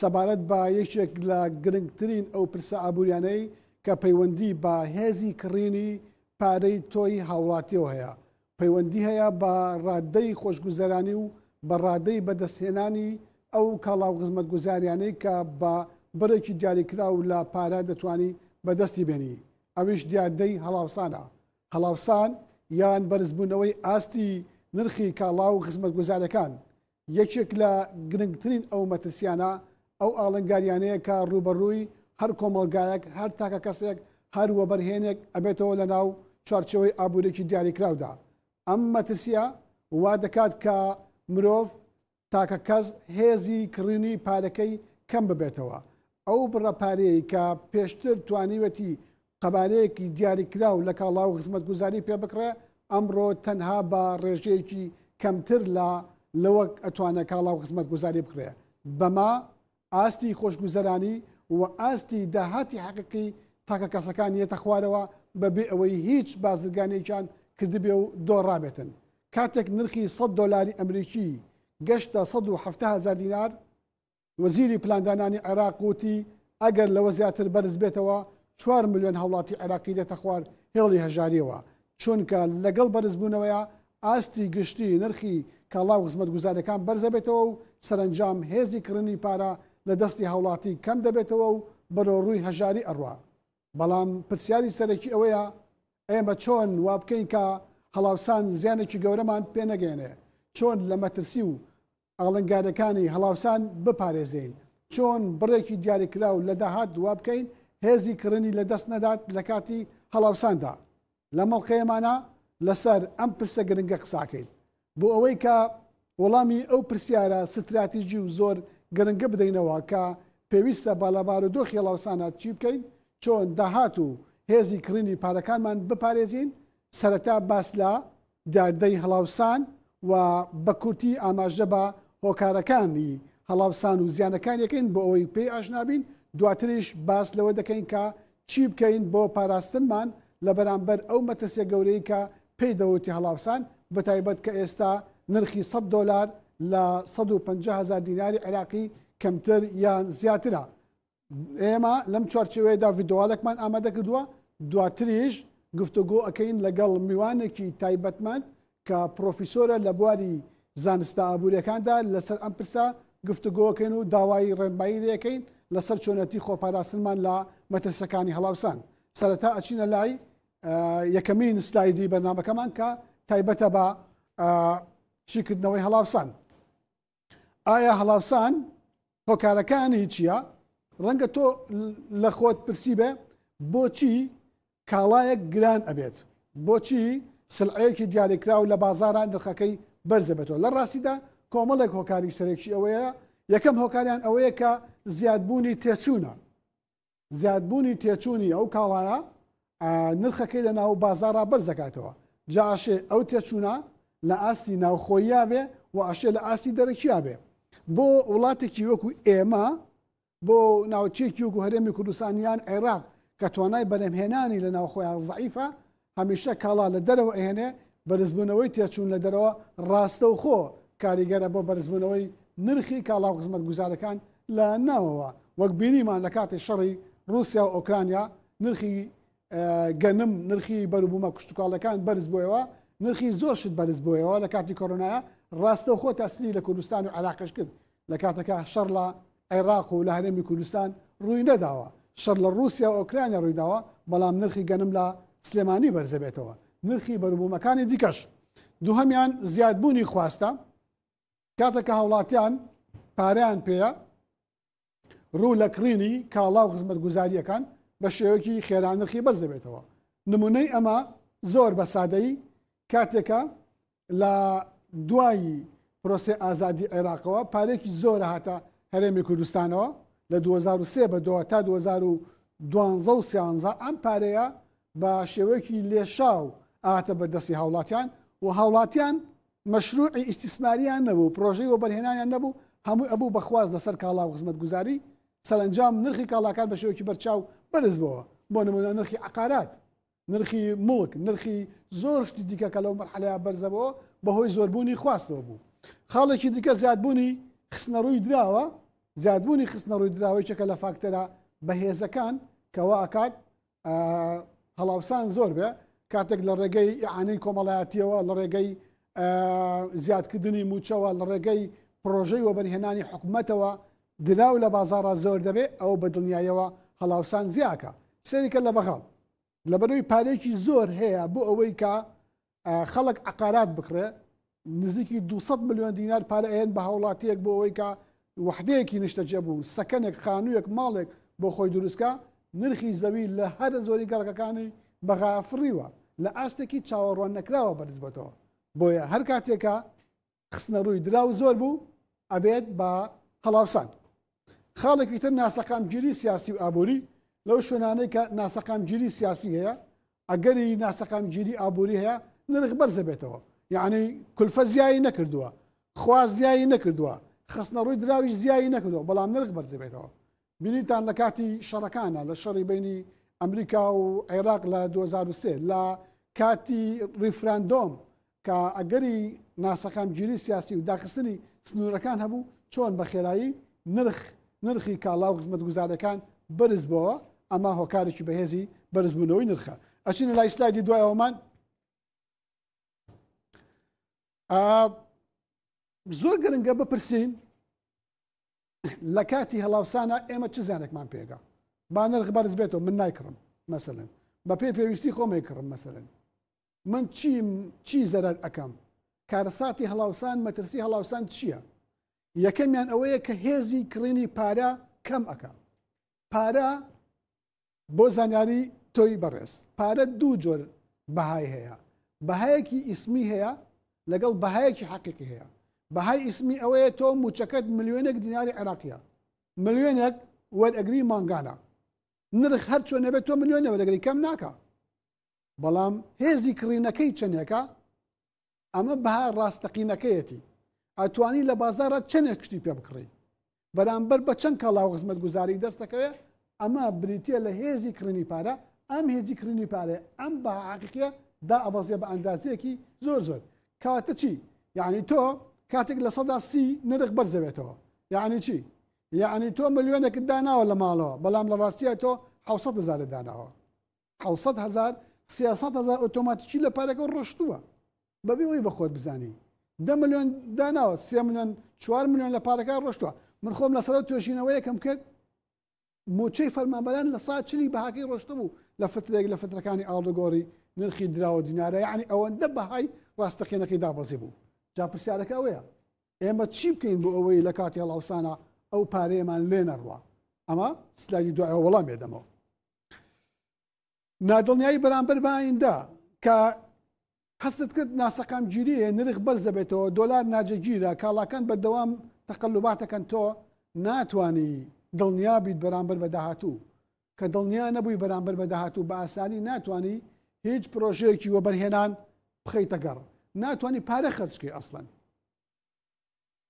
سەبارەت بە یەکێک لە گرنگترین ئەو پرسە ئابووریانەی کە پەیوەندی بە هێزی کڕینی پارەی تۆی هاوڵاتیەوە هەیە، پەیوەندی هەیە بە ڕادەی خۆشگوزەرانی و بە ڕادەی بەدەستهێنانی ئەو کاڵا و خزمەتگوزاریانەی کە بە بڕێکی دیاریکراو لە پارە دەتوانی بەدەستی بێنی، ئەویش دیاردەی هەڵاوسانە. هەڵاوسان یان بەرزبوونەوەی ئاستی نرخی کاڵا و خزمەتگوزاریەکان، یەکێک لە گرنگترین ئەو مەترسیانە ئەو ئاڵنگاریانەیە کە ڕووبەڕووی هەر کۆمەڵگایەک، هەر تاکەکەسێک، هەر وەبەرهێنێک ئەبێتەوە لە ناو چوارچێوەی ئابووریەکی دیاریکراودا. ئەم مەترسیە وا دەکات کە مرۆڤ، تاکەکەس، هێزی کڕینی پارەکەی کەم ببێتەوە. ئەو بڕە پارەیەی کە پێشتر توانیوێتی قەبارەیەکی دیاریکراو لە کاڵا و خزمەتگوزاری پێ بکڕێ، ئەمڕۆ تەنها بە ڕێژەیەکی کەمتر لە لەوەک ئەتوانێ کاڵا و خزمەتگوزاری بکڕێ. بەمە ئاستی خۆشگوزەرانی و ئاستی داهاتی حەقیقی تاکەکەسەکان یەتە خوارەوە بە بێ ئەوەی هیچ بازرگانێکیان کردبێ و دۆڕابێتن. کاتێک نرخی سەد دۆلاری ئەمریکی گەشتە سەد و حەفتا هەزار دینار، وەزیری پلاندانانی عێراق وتی، ئەگەر لەوە زیاتر بەرز بێتەوە، چوار ملیۆن هاوڵاتی عێراقی دێتە خوار هێڵی هەژارییەوە، چونکە لەگەڵ بەرزبوونەوەیە ئاستی گشتی نرخی کاڵا و خزمەتگوزاریەکان بەرزەبێتەوە و سەرەنجام هێزی کڕنی پارە لە دەستی هاوڵاتی کەم دەبێتەوە و بەرەو ڕووی هەژاری ئەڕوا. بەڵام پرسیاری سەرەکی ئەوەیە ئێمە چۆن وابکەین کە هەڵاوسان زیانێکی گەورەمان پێنەگەیەنێ، چۆن لە مەترسی و ئاڵنگاریەکانی هەڵاوسان بپارێزێین، چۆن بڕێکی دیاریکراو لە داهات وابکەین هێزی کڕنی لە دەست نەدات لە کاتی هەڵاوساندا. لە مەڵقەیەمانا لە سەر ئەم پرسە گرنگە قساکەین. بۆ ئەوەی کە وەڵامی ئەو پرسیارە ستراتیژی و زۆر گرنگە بدەینەوە کە پێویستە با لە بارودۆخی هەڵاوسانە چی بکەین، چۆن داهات و هێزی کڕینی پارەکانمان بپارێزین، سەرەتا باس لە دیاردەی هەڵاوسان و بە کورتی ئاماژە بە هۆکارەکانی هەڵاوسان و زیانەکانی دەکەین بۆ ئەوەی پێی ئاشنا بین، دواتریش باس لەوە دەکەین کە چی بکەین بۆ پاراستنمان لە بەرامبەر ئەو مەترسیە گەورەی کە پێی دەوترێ هەڵاوسان، بەتایبەت کە ئێستا نرخی سەد دۆلار لە سەد و پەنجا هەزار دیناری عێراقی کەمتر یان زیاترە. ئێمە لەم چوارچێوەیەدا ڤیددیوالێکمان ئامادە کردووە دواتریش گفتوگۆ ئەەکەین لەگەڵ میوانێکی تایبەتمەند کە پرۆفیسۆرە لە بواری زانستە ئابوووریەکاندا لەسەر ئەم پرسە گفتوگۆکەین و داوای ڕێنمایی لەکەین لەسەر چۆنەتی خۆپاراستنمان لە مەترسەکانی هەڵاوسان سەرەتا ئەچینە لای یەکەمین سلایدی بەنامەکەمان کە تایبەتە بە چیکردنەوەی هەڵاوسان ئایا هەڵاوسان هۆکارەکانی چییە؟ ڕەنگە تۆ لە خۆت پرسی بێ بۆچی کاڵایەک گران ئەبێت بۆچی سلعەیەکی دیاریکراو لە بازاران دخەکەی بەرزەبێتەوە لە ڕاستیدا کۆمەڵێک هۆکاری سەرەکی ئەوەیە یەکەم هۆکاریان ئەوەیە کە زیادبوونی تێچوونە زیادبوونی تێچوونی ئەو کاڵایە نرخەکەی لە ناو بازارا بەرز دەکاتەوە جا ئەشێ ئەو تێچوونە لە ئاستی ناوخۆییا بێ و ئەشێ لە ئاستی دەرەکییا بێ بۆ وڵاتێکی وەکو ئێمە بۆ ناوچێکی وەکو هەرێمی کوردستانیان عێراق کە توانای بەرەمهێنانی لە ناوخۆیان زعیفە هەمیشە کاڵا لە دەرەوە ئەهێنێ، بەرزبوونەوەی تێچوون لە دەرەوە ڕاستەوخۆ کاریگەرە بۆ بەرزبوونەوەی نرخی کاڵا و خزمەتگوزارەکان لە ناوەوە، وەک بینیمان لە کاتی شەڕی ڕووسیا و ئۆکرانیا نرخی گەنم، نرخی بەروبوومە کشتوکاڵەکان بەرز بوویەوە، نرخی زۆر شت بەرز بوویەوە لە کاتی کۆرۆنایا ڕاستەوخۆ تاسیری لە کوردستان و عێراقیش کرد. لە کاتەکە شەڕ لە عێراق و لە هەرێمی کوردستان ڕووی نەداوە شەر لە رووسیا و ئۆکرانیا ڕوویداوە بەڵام نرخی گەنم لە سلێمانی بەرزەبێتەوە نرخی بەروبوومەکانی دیکەش دووهمیان زیادبوونی خواستە کاتەکە هاوڵاتیان پاریان پێەیە ڕوو لە کڕینی کاڵا و خزمەت گوزاریەکان بە شێوەکی خێرا نرخی بەرزەبێتەوە نمونەی ئەمە زۆر بە سادەی کاتێکە لە دوایی پرۆسێ ئازادی عێراقەوە پارێکی زۆرە هاتە هەرێمی کوردستانەوە لە 2023 بە دو تا 2012 و سیانزە ئەم پارەیە بە شێوەیەکی لێشاو ئاتە بەردەستی هاوڵاتیان و هاوڵاتیان مەشروعی ئیسیسماریان نەبوو پرۆژەی وەبەرهێنانیان نەبوو هەموو ئەبوو بەخواست لەسەر کاڵا و خزمەت گوزاری سەرنجام نرخی کاڵاکان بە شێوەکی بەرچاو بەرز بەوە بۆ نمونە نرخی عقارات نرخی موڵک نرخی زۆر شتی دیکە کە لەو مەرحەلەیە بەرزەبەوە بەهۆی زۆربوونی خواستەوە بوو خاڵێکی دیکە زیادبوونی خستنە ڕووی دراوە زیادبوونی خستنە ڕووی دراوەی چەکە لە فاکتەرە بەهێزەکان کەوا ئەکات هەڵاوسان زۆر بێ کاتێک لە ڕێگەی ئیعانەی کۆمەڵایەتیەوە لە ڕێگەی زیادکردنی موچەوە لە ڕێگەی پرۆژەی وەبەرهێنانی حکوومەتەوە دراو لە بازاڕا زۆر دەبێ ئەوە بە دڵنیایەوە هەڵاوسان زیاکە سەیری کە لە بەغاو لەبەرەوەی پارەیەکی زۆر هەیە بۆ ئەوەی کە خەڵک عقارات بکڕێ نزیکی 200 میلیۆن دینار پارە ئەێن بە هاوڵاتیەک بۆ ئەوەی کە وحدەیەکی نیشتەجێ بوو سەکەنێک خانوویەک ماڵێک بۆ خۆی دروستکە نرخی زەوی لە هەرە زۆری گەڕەکەکانی بەغا فڕیوە لە ئاستێکی چاوەڕوان نەکراوە بەرزبەتەوە بۆیە هەر کاتێکە خستنە ڕووی دراو زۆر بوو ئەبێت بە هەڵاوسان خاڵێکی تر ناسەقامگیری سیاسی و ئابووری لەو شوێنانەی کە ناسەقامگیری سیاسی هەیە ئەگەری ناسەقامگیری ئابووری هەیە نرخ بەرزە بێتەوە یعنی کولفە زیایی نەکردووە خواز زیایی نەکردووە خستنە ڕووی دراویش زیایی نەکردەوە بەڵام نرخ بەرزبێتەوە بیریتان لە کاتی شەڕەکانە لە شەڕی بینی ئەمریکا و عێراق لە 2023 لە کاتی ریفراندۆم کە ئەگەری ناسەقامگیری سیاسی و داخستنی سنوورەکان هەبوو چۆن بە خێرایی نرخ نرخی کاڵا و خزمەت گوزارەکان بەرز بۆەوە ئەمە هۆکارێکی بەهێزی بەرزبوونەوەی نرخە ئەچینە لای سلایدی دوایەوەمان زۆر گرنگە بپرسین لە کاتی هەڵاوسانا ئێمە چ زیانێکمان پێگا با نرخ بەرز بێتەوە من نایکڕم مەسەن بە پێی پێویستی خۆمەی کڕم مەسەن من چیم چی زەرەر ئەەکەم کارەساتی هەڵاوسان مەترسی هەڵاوسان چییە یەکەمیان ئەوەیە کە هێزی کڕینی پارە کەم ئەەکە پارە بۆ زانیاری تۆی بەڕێز پارە دوو جۆر بەهای هەیە بەهایەکی ئیسمی هەیە لەگەڵ بەهایەکی حەقیقی هەیە بەهای ئیسمی ئەوەیە تۆ موچەکەت ملیۆنێک دیناری عێراقیە ملیۆنێک وەرئەگری مانگانە نرخ هەر چۆن نەبێت تۆ ملیۆنە وەرەگری کەم ناکە بەڵام هێزی کڕینەکەی چەندێکە ئەمە بەها ڕاستەقینەکەیەتی ئەتوانی لە بازارە چەندێک شتی پێ بکڕی بەرامبەر بە چەند کاڵا و خزمەت گوزاری دەستەکەوێ ئەمە بریتە لە هێزی کڕینی پارە ئەم هێزی کڕینی پارێ ئەم بە عقیە دا ئەبەزیە بە ئەندازەیەکی زۆر زۆر کاتە چی یعنی تۆ کاتێک لە سەدا سی نرخ بەرزەوێتەوە یعنی چی یعنی تۆ ملیۆنێکت داناوە لە ماڵەوە بەڵام لە ڕاستیە تۆ حوسە دەزارە داناوە حوسەت هزار سیاسەت هزار ئۆتۆماتیکی لە پارەکە ڕۆشتووە بەبێ ئەوی بە خۆت بزانانی دە میلیۆن داناوە سێ میلیۆن چوار میلیۆن لە پارەکە ڕۆشتووە من خۆم لە سەرەوە توێژینەوە یەکەم کرد موچەی فەرمانبەران لە سا چلی بەهاکەی ڕۆشتە بوو لە فترێک لە فترەکانی ئاڵدەگۆڕی نرخی دراوە دینارە یعنی ئەوەندە بەهای ڕاستەقینەکەی دابەزی بوو جا پرسیارەکە ئەوەیە ئێمە چی بکەین بۆ ئەوەی لە کاتی هەڵاوسانە ئەو پارەیەمان لێ نەڕوە ئەمە سلایدی دوایە وەڵام بێدەمەوە نادڵنیایی بەرامبەر بە ئایندە کە هەستت کرد ناسەقام گیریە نرخ بەرزەبێتەوە دۆلار ناجەگیرە کاڵاکان بەردەوام تەقلوباتەکەن تۆ ناتانی دڵنیا بیت بەرامبەر بە داهاتوو کە دڵنیا نەبووی بەرامبەر بە داهاتوو بە ئاسانی ناتانی هیچ پرۆژەیەکی وەبەرهێنان بخەیتە گەڕ ناتانی پارە خەرچکەی ئەسڵەن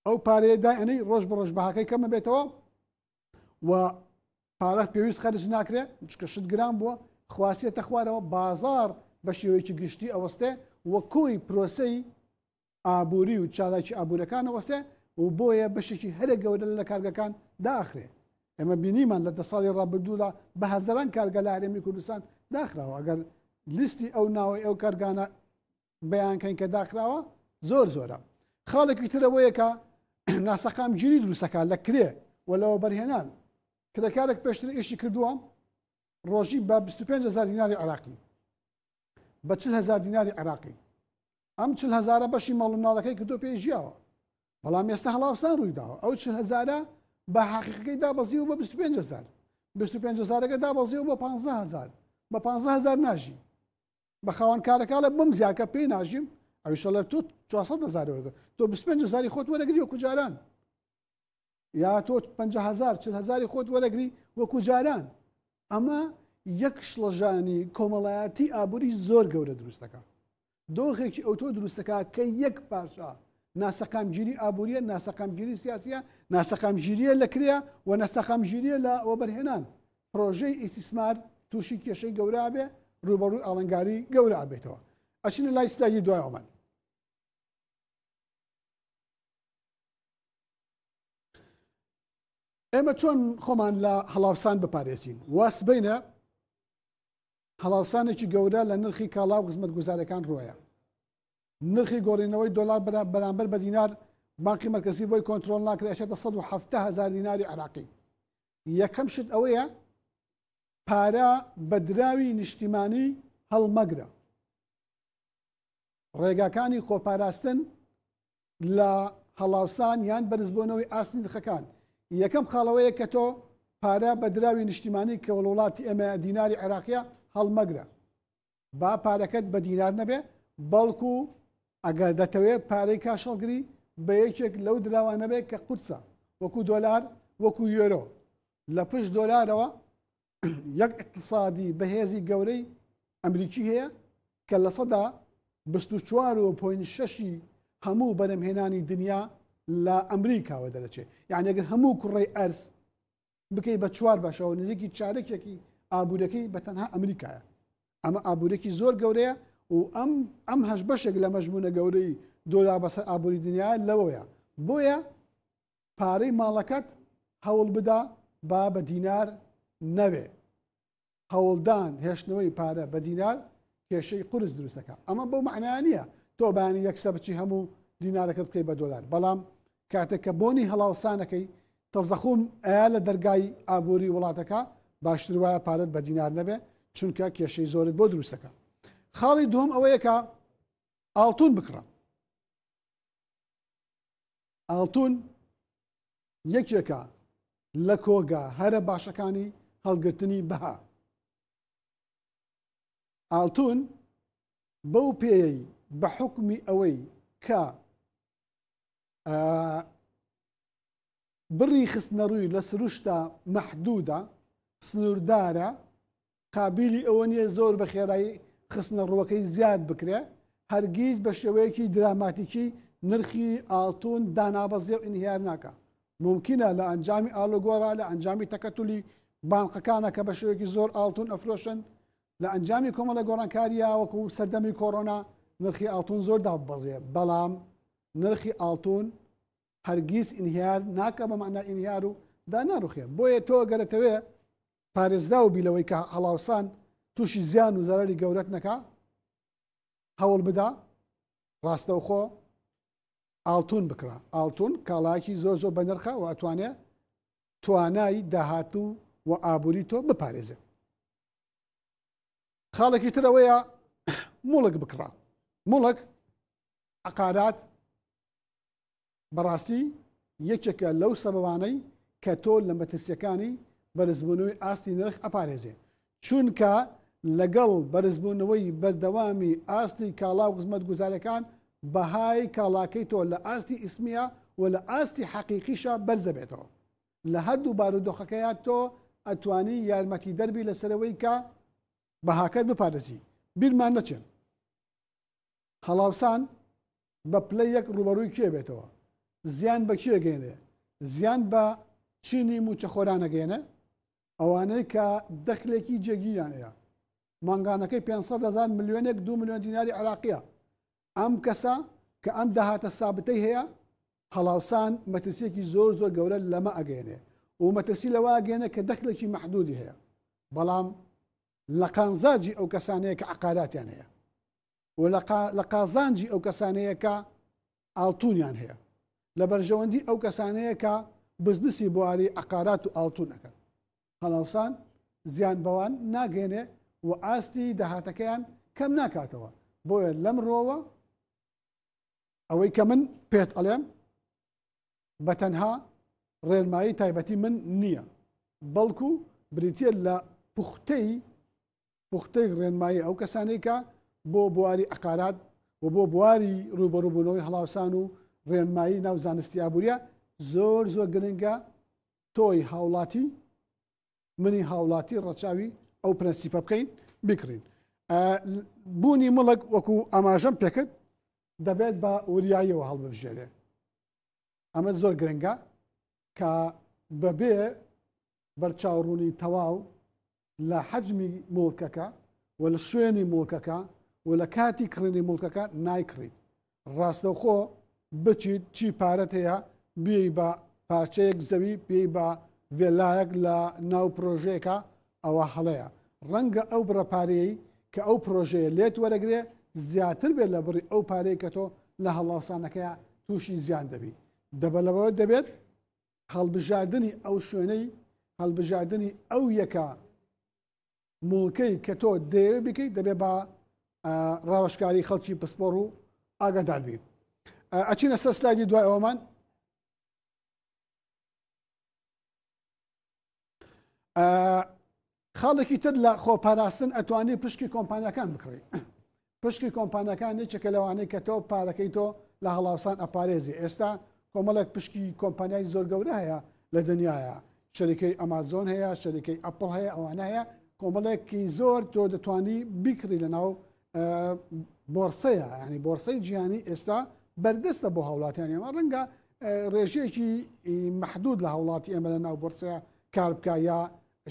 ئەو پارەیە دائەنەی ڕۆژ بە ڕۆژ بەهاکەی کەمە بێتەوە و پارە پێویست خەرج ناکرێت چکە شت گران بووە خواسیەتە خوارەوە بازار بە شێوەیەکی گشتی ئەوەستێ و کۆی پرۆسی ئابووری و چالاکی ئابوورەکان ئەوەستێ و بۆیە بەشێکی هەرە گەورە لە کارگەکان داخرێ ئەمە بینیمان لە دە ساڵی ڕابردوودا بە هەزاران کارگە لە هەرێمی کوردستان داخراوە ئەگەر لیستی ئەو ناوەی ئەو کارگانە بیانکەین کە داخراوە زۆر زۆرە خاڵێکی ترەوەیەکە ناسەقام گیری دروستەکە لە کرێ و لەوە بەرهێنان کرێکارێک پێشتر ئیشی کردووە ڕۆژی بە 25 هزار دیناری عراقی بە چ هزار دیناری عراقی ئەم چ هزارە بەشی ماڵ مناڵەکەی کردو پێی ژیاوە بەڵام ئێستا هەڵاوسان ڕوویداوە ئەو چ هزارە بە حقیقەکەی دابەزی و بە 25 هزار 25 هزارەکە دابەزی و بە 15 هزار بە 15 هزار ناژی بە خاوەن کارەکە لە بم زیاکە پێی ناژیم ئەویشە لە تۆ 400 هزار وەرگە تۆ 25 هزاری خۆت وەرەگری وەکو جاران یا تۆ 50 هزار چ هزاری خۆت وەرەگری وەکو جاران ئەمە یەک شڵەژانی کۆمەڵایەتی ئابووری زۆر گەورە دروستەکە دۆخێکی ئەوتۆ دروستەکە کە یەک پاشا ناسەقامگیری ئابووریە ناسەقامگیری سیاسە ناسەقامگیریە لە کرێە و نەسەقامگیریە لە ئەوبەرهێنان پرۆژەی ئیسیسمار تووشی کێشەی گەورە بێ ڕوبەڕووی ئاڵنگاری گەورە ئابێتەوە ئەچینە لای سلاگی دوایەوەمان ئێمە چۆن خۆمان لە هەڵاوسان بپارێزین واس بینە هەڵاوسانێکی گەورە لە نرخی کاڵا و خزمەت گوزارەکان ڕۆیە نرخی گۆڕینەوەی دۆلار بەرامبەر بە دینار باقی مرکزی بۆی کۆنتترۆل ناکرێت 1970 هزار دیناری عراقی یەکەم شت ئەوەیە پارە بە دراوی نیشتیمانی هەڵمەگرە ڕێگاکانی خۆپاراستن لە هەڵاوسان یان بەرزبوونەوەی ئاستی نرخەکان یەکەم خاڵەوەیە کە تۆ پارە بە دراوی نیشتیمانی کە وڵ وڵاتی ئێمە دیناری عێراقیە هەڵمەگرە با پارەکەت بە دینار نەبێ بەڵکو ئەگەر دەتەوێت پارەی کاشەڵگری بە یەکێک لەو دراوە نەبێت کە قورسە وەکو دۆلار وەکو یۆرۆ لە پشت دۆلارەوە یەک اقتصادی بەهێزی گەورەی ئەمریکی هەیە کە لە سەدا 24.6 هەموو بەرەمهێنانی دنیا لە ئەمریکاوە دەرەچێت یعنیگەر هەموو کوڕی ئەرز بکەی بە چوار بەشەوە نزیکی چارەکێکی ئابوورەکەی بە تەنها ئەمریکایە ئەمە ئابوورێکی زۆر گەورەیە و ئەم ئەم هەش بەشێک لە مەژبوونە گەورەی دۆلا بەسەر ئابووری دنیا لەوەیە بۆیە پارەی ماڵەکەت هەوڵ بدا با بە دینار نەوێ هەوڵدان هێشتنەوەی پارە بە دینار کێشەی قورس دروست دەکات ئەمە بەو معناە نییە تۆ بانی یەکسە بچی هەموو دینارەکەت بکەی بە دۆلار بەڵام کاتێک کە بۆنی هەڵاوسانەکەی تەزەخوم ئایا لە دەرگای ئابووری وڵاتەکە باشتر وایە پارەت بە دینار نەبێ چونکە کێشەی زۆرت بۆ دروستەکە خاڵی دوم ئەوەیەکە ئاڵتون بکڕە ئاڵتون یەکێکە لە کۆگا هەرە باشەکانی هەڵگرتنی بەها. ئاڵتون بەو پێیەی بە حکومی ئەوەی کە بڕی خستنەڕووی لە سروشتا مەحدوودە سنووردارە قابیلی ئەوە نییە زۆر بە خێرایی خستنە ڕووەکەی زیاد بکرێ هەرگیز بە شێوەیەکی دراماتیکی نرخی ئاڵتون دانابەزێ و ئینهیار ناکە ممکنە لە ئەنجامی ئالۆگۆرا لە ئەنجامی تەکەتولی بانقەکانە کە بە شێوەیەکی زۆر ئاڵتون ئەفرۆشن لە ئەنجامی کۆمەڵە گۆڕانکاریە وەکو سەردەمی کۆرۆنا نرخی ئاڵتون زۆر دابەزێ بەڵام نرخی ئاڵتون هەرگیز ئینهیار ناکە بە معنای ئینهیار و دا ناڕوخێ بۆیە تۆ گەرەتەوێ پارێزراو بی لەوەی کە هەڵاوسان تووشی زیان و زەرری گەورەت نەکا هەوڵ بدا ڕاستەوخۆ ئاڵتون بکرا ئاڵتون کاڵاکی زۆر زۆر بەنرخە و ئەتوانێ توانای داهاتوو و ئابووری تۆ بپارێزێ خاڵێکی ترەوەیە مڵک بکڕا مڵک عقارات بەڕاستی یەکێکە لەو سەبەبانەی کە تۆ لە مەترسیەکانی بەرزبوونەوەی ئاستی نرخ ئەپارێزێ چونکە لەگەڵ بەرزبوونەوەی بەردەوامی ئاستی کاڵا و خزمەت گوزارەکان بەهای کاڵاکەی تۆ لە ئاستی ئیسمیە و لە ئاستی حەقیقیشە بەرزەبێتەوە لە هەردوو بارودۆخەکەیە تۆ ئەتوانی یارمەتی دەربی لەسەرەوەی کە بەهاکەت بپارێزی بیرمان نەچێن هەڵاوسان بە پلە یەک ڕووبەڕووی کێ بێتەوە؟ زیان بە کێ گەینێ؟ زیان بە چینی مووچەخۆران ئەگەینێ؟ ئەوانەی کە دەخلێکی جێگیریان هەیە، مانگانەکەی پێنج سەد هەزار ملیۆنێک دوو ملیۆن دیناری عێراقییە، ئەم کەسە کە ئەم داهاتە سابتەی هەیە، هەڵاوسان مەترسییەکی زۆر زۆر گەورە لەمە ئەگەینێ و مەترسی لەوە ئەگەینێ کە دەخلێکی مەحدوودی هەیە، بەڵام لە قانزاجی ئەو کەسانەیە کە عەقاراتیان هەیە. و لە قازانجی ئەو کەسانەیە کە ئاڵتونیان هەیە لە بەرژەوەندی ئەو کەسانەیە کە بزنسی بواری عقارات و ئاڵتون ئەەکەن هەڵاوسان زیان بەوان ناگەێنێ و ئاستی داهاتەکەیان کەم ناکاتەوە بۆیە لەم ڕۆوە ئەوەی کە من پێت ئەڵێم بە تەنها ڕێنمایی تایبەتی من نییە بەڵکو بریتە لە پوختەی پوختەی ڕێنمایی ئەو کەسانەی کە بۆ بواری ئەقارات و بۆ بواری ڕوبەڕوبوونەوەی هەڵاوسان و ڕێنمایی ناو زانستی ئابوووریە زۆر زۆر گرنگە تۆی هاوڵاتی منی هاوڵاتی ڕەچاوی ئەو پرەنسیپە بکەین بکڕین بوونی مڵک وەکو ئاماژەم پێکرد دەبێت بە وریاییەوە هەڵبژێنێ ئەمە زۆر گرنگە کە بەبێ بەرچاوڕوونی تەواو لە حەجمی موڵکەکە و لە شوێنی موڵکەکە و لە کاتی کڕینی موڵکەکە نایکڕیت ڕاستەوخۆ بچیت چی پارەت هەیە بێ بە پارچەیەک زەوی پێی بە ڤێلایەک لە ناو پرۆژەیەەکە ئەوە هەڵەیە ڕەنگە ئەو بڕەپارەیەی کە ئەو پرۆژەیە لێت وەرەگرێ زیاتر بێت لە بڕی ئەو پارەیە کە تۆ لە هەڵاوسانەکەی تووشی زیان دەبی دەبەلەوە دەبێت هەڵبژاردنی ئەو شوێنەی هەڵبژاردنی ئەو یەکە موڵکەی کە تۆ دەیەوێ بکەیت دەبێ بە ڕاوشکاری خەڵکی پسپۆڕ و ئاگاداربی ئەچینە سەر سلایدی دوای ئەومان خاڵێکی تر لە خۆپاراستن ئەتوانی پشکی کۆمپانیەکان بکڕی پشکی کۆمپانیەکان یەکێکە لەوانەیە کە تۆ پارەکەی تۆ لە هەڵاوسان ئەپارێزی ئێستا کۆمەڵێک پشکی کۆمپانیای زۆر گەورە هەیە لە دنیاە شەریکەی ئەمازۆن هەیە شەریکەی ئەپل هەیە ئەوانە هەیە کۆمەڵێکی زۆر تۆ دەتوانی بیکڕی لە ناو بۆرسەیە ینی بۆرسەی جیهانی ئێستا بەردەستە بۆ هاوڵاتیانی ئەمە ڕەنگە ڕێژەیەکی محدود لە هاوڵاتی ئێمە لە ناو بۆرسەیە کار بکە یا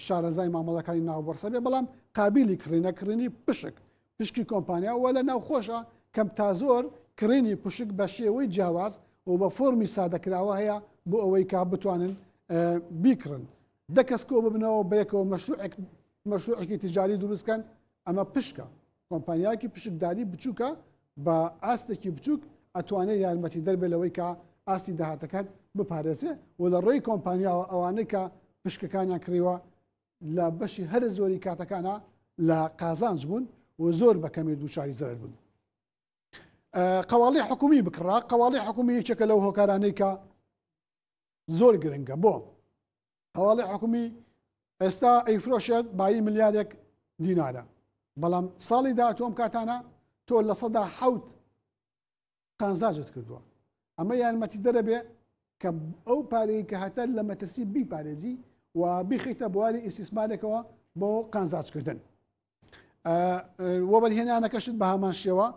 شارەزای مامەڵەکانی ناو بۆرسە بێ بەڵام قابلی کڕینە کڕینی پشک پشکی کۆمپانیا وە لە ناو خۆشە کەم تا زۆر کڕینی پشک بە شێوەی جیاواز و بە فۆمی سادەکراوە هەیە بۆ ئەوەی کا بتوانن بیکڕن دە کەس کۆ ببنەوە بەیەکەوە مەشروعێک مەشروعێکی تجاری دروستکەن ئەمە پشکە کۆمپانیایەکی پشکداری بچووکە بە ئاستێکی بچووک ئەتوانێت یارمەتی دەربێت لەوەی کە ئاستی داهاتەکەت بپارێزێ و لە ڕێی کۆمپانیاوە ئەوانەی کە پشکەکانیان کڕیوە لە بەشی هەر زۆری کاتەکانە لە قازانج بوون و زۆر بەکەمی دووچاری زەرەر بوون. قواڵی حکومی بکڕا قواڵی حکومی یەکێکە لەو هۆکارانەی کە زۆر گرنگە بۆ هەواڵی حکومی ئێستا ئەیفرۆشێت بایی ملیارێک دینارە بەڵام ساڵی داهاتوەم کاتانە تۆ لە سەدا حوت قانزاجت کردووە ئەمە یارمەتی دەرەبێ کە ئەو پارەیە کە هەتا لە مەترسی بیپارێزی و بیخیتە بواری ئیسیسمارێکەوە بۆ قانزاجکردن وەبەرهێنانەکەشت بە هامان شێوە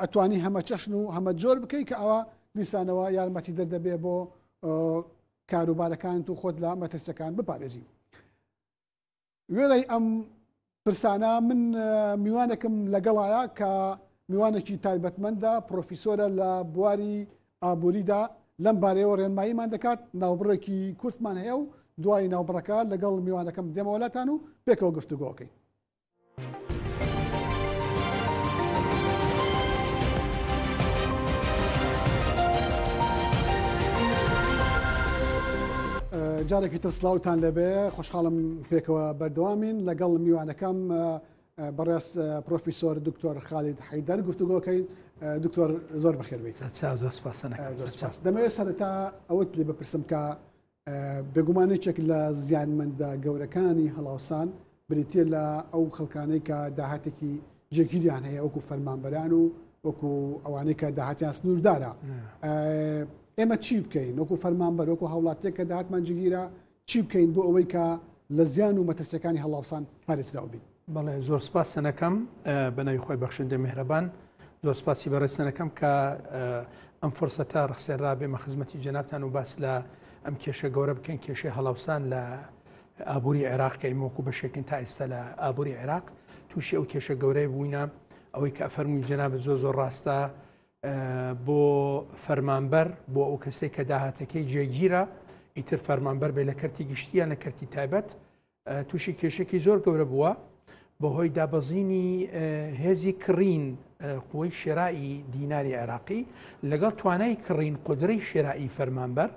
ئەتوانی هەمە چەشن و هەمە جۆر بکەیت کە ئەوە دیسانەوە یارمەتی دەردەبێ بۆ کاروبارەکانت و خۆت لە مەترسەکان بپارێزی وێرەی ئەم پرسانە من میوانێکم لەگەڵایە کە میوانێکی تایبەتمەندە پرۆفیسۆرە لە بواری ئابووریدا لەم بارەیەوە ڕێنماییمان دەکات ناوبڕێکی کورتمان هەیە و دوای ناوبڕەکە لەگەڵ میوانەکەم دێمەوەلاتان و پێکەوە گفتوگۆکەین. جارێکی تر سلااوان لەبێ خۆشحاڵم پێکەوە بەردەوامین لەگەڵ میوانەکەم بەڕێز پرۆفیسۆر دکتۆر خالید حیدەر گفتوگۆکەین دکتۆر زۆر بەخێربیت دەمەوێت سەرتا ئەوەت لێ بپرسم کە بێگومانێکێک لە زیانمەندە گەورەکانی هەڵاوسان بریتە لە ئەو خەڵکانەی کە داهاتێکی جێگیریان هەیە وەکو فەرمانبەران و وەکو ئەوانەی کە داهاتیان سنووردارە ئێمە چی بکەین وەکو فەرمانبەر وەکو هەوڵاتێک کە داهاتمان جگیرە چی بکەین بۆ ئەوەی کە لە زیان و مەترسیەکانی هەڵاوسان پارێزراو بین بەڵێ زۆر سپاس سەنەکەم بەناوی خۆی بەخشندە میهرەبان زۆر سپاسی بەڕێسەنەکەم کە ئەم فرسەتە ڕخسێنرا بێمە خزمەتی جەنابان و باس لە ئەم کێشە گەورە بکەن کێشەی هەڵاوسان لە ئابووری عێراق کە ئیمۆکو بەشێکن تا ئێستا لە ئابووری عێراق تووشی ئەو کێشە گەورەی بووینە ئەوەی کە ئەفەرمووی جەنابە زۆ زۆر ڕاستە بۆ فەرمانبەر بۆ ئەو کەسێک کە داهاتەکەی جێگیرە ئیتر فەرمانبەر بێ لە کەرتی گشتیان لە کەرتی تایبەت تووشی کێشێکی زۆر گەورە بووە بەهۆی دابەزینی هێزی کڕین قوی شێرائی دیناری عێراقی لەگەڵ توانای کڕین قدرەی شێرائی فەرمانبەر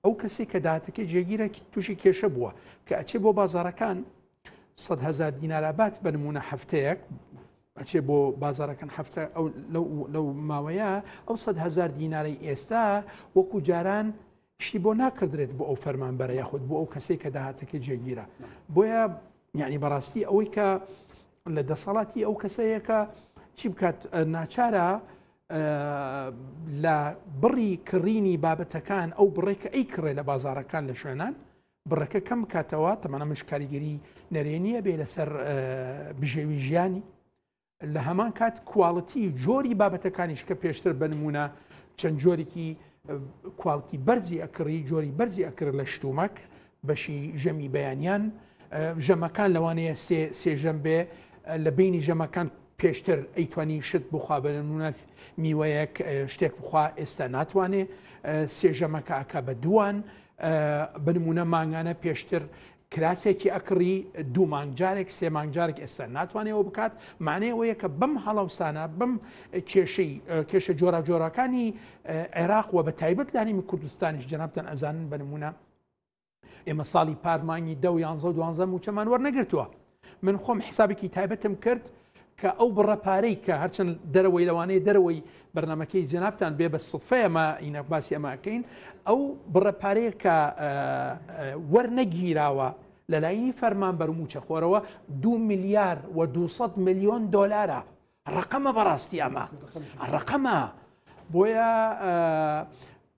ئەو کەسی کە داهاتەکە جێگیرە تووشی کێشە بووە کە ئەچێ بۆ بازارەکان سەد هزار دینارابات بە نمونە هەفتەیەک ئەچێ بۆ بازارەکەن هەفتە لەو ماوەیە ئەو سەد هزار دینارەی ئێستا وەکو جاران شتی بۆ ناکردرێت بۆ ئەو فەرمان بەرە یاخود بۆ ئەو کەسێک کە داهاتەکە جێگیرە بۆیە یعنی بەڕاستی ئەوەی کە لە دەسەڵاتی ئەو کەسەیەکە چی بکات ناچارە لە بڕی کڕینی بابەتەکان ئەو بڕێک کە ئەی کڕێ لە بازارەکان لە شوێنان بڕەکە کەم کاتەوە تەمەە مش کاریگەری نەرێنیە بێ لەسەر بژێوی ژیانی لە هەمان کات کوواڵەتی جۆری بابەتەکانیش کە پێشتر بنمونە چەند جۆرێکی کوالتی بەرزی ئەکڕی جۆری بەرزی ئەکرد لە شتومەک بەشی ژەمی بەیانیان ژەمەکان لەوانەیە سێ سێژەم بێ لە بینی ژەمەکان پێشتر ئەیتوانی شت بخوا بەنمونە میوەیەک شتێک بخوا ئێستا ناتوانێ سێژەمەکە ئەکا بە دووان بنمونە مانگانە پێشتر کراسێکی ئەکڕی دوو مانگجارێک سێ مانگجارێک ئێستا ناتوانێەوە بکات مانەیەوەیە کە بەم هەڵاوسانە بم کێشەی کێشە جۆرا جۆراکانی عێراق و بە تایبەت لانیمی کوردستانیش جنابتەن ئەزانن بە نمونە ئێمە ساڵی پار مانگی دە و یانزە و دوانزە موچەمان وەرنەگرتووە من خۆم حسابێکی تایبەتم کرد کە ئەو بڕە پارەی کە هەرچەند دەرەوەی لەوانەیە دەرەوەی بەرنمەکەی جنابان بێ بە سفەیەمە ئینە باسی ئەماکەین ئەو بڕە پارەیە کە وەرنەگیراوە لەلایینی فەرمان بەرموچە خۆرەوە دو میلیار و 200 میلیۆن دلارە ڕقەمە بەڕاستی ئەمە ڕقەمە بۆیە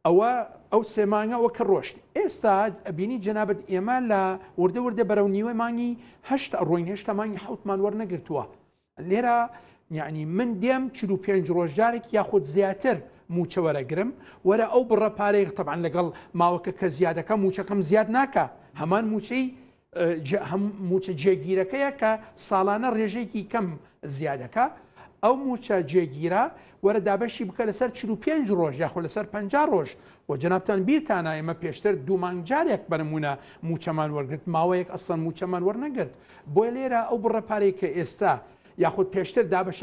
ئەوە ئەو سێمانگەوە کە ڕۆشت ئێستا ئەبینی جەنابەت ئێمە لە وردە وردە بەرەو نیوە مانگی هەشت ڕۆین هێشتا مانگی حوتمان وەرنەگرتووە لێرە یعنی من دێم چ و پێنج ڕۆژدارێک یاخود زیاتر موچەوەرەگرم وەرە ئەو بڕە پارەی تەبان لەگەڵ ماوەکە کە زیادەکە موچەکەم زیاد ناکە هەمان موچەی مووچە جێگیرەکەیە کە ساڵانە ڕێژەیەکی کەم زیادەکە ئەو مووچە جێگیرە وەرە دابەشی بکە لەسەر 45 ڕۆژ یاخۆ لەسەر 50 ڕۆژ و جنابتان بیرتانە ئمە پێشتر دوومانگ جارێک بەرمونە موچەمان وەرگرت ماوەیەک ئەسەن موچەمان وەرنەگرت بۆی لێرە ئەو بڕە پارەی کە ئێستا یاخود پێشتر دابش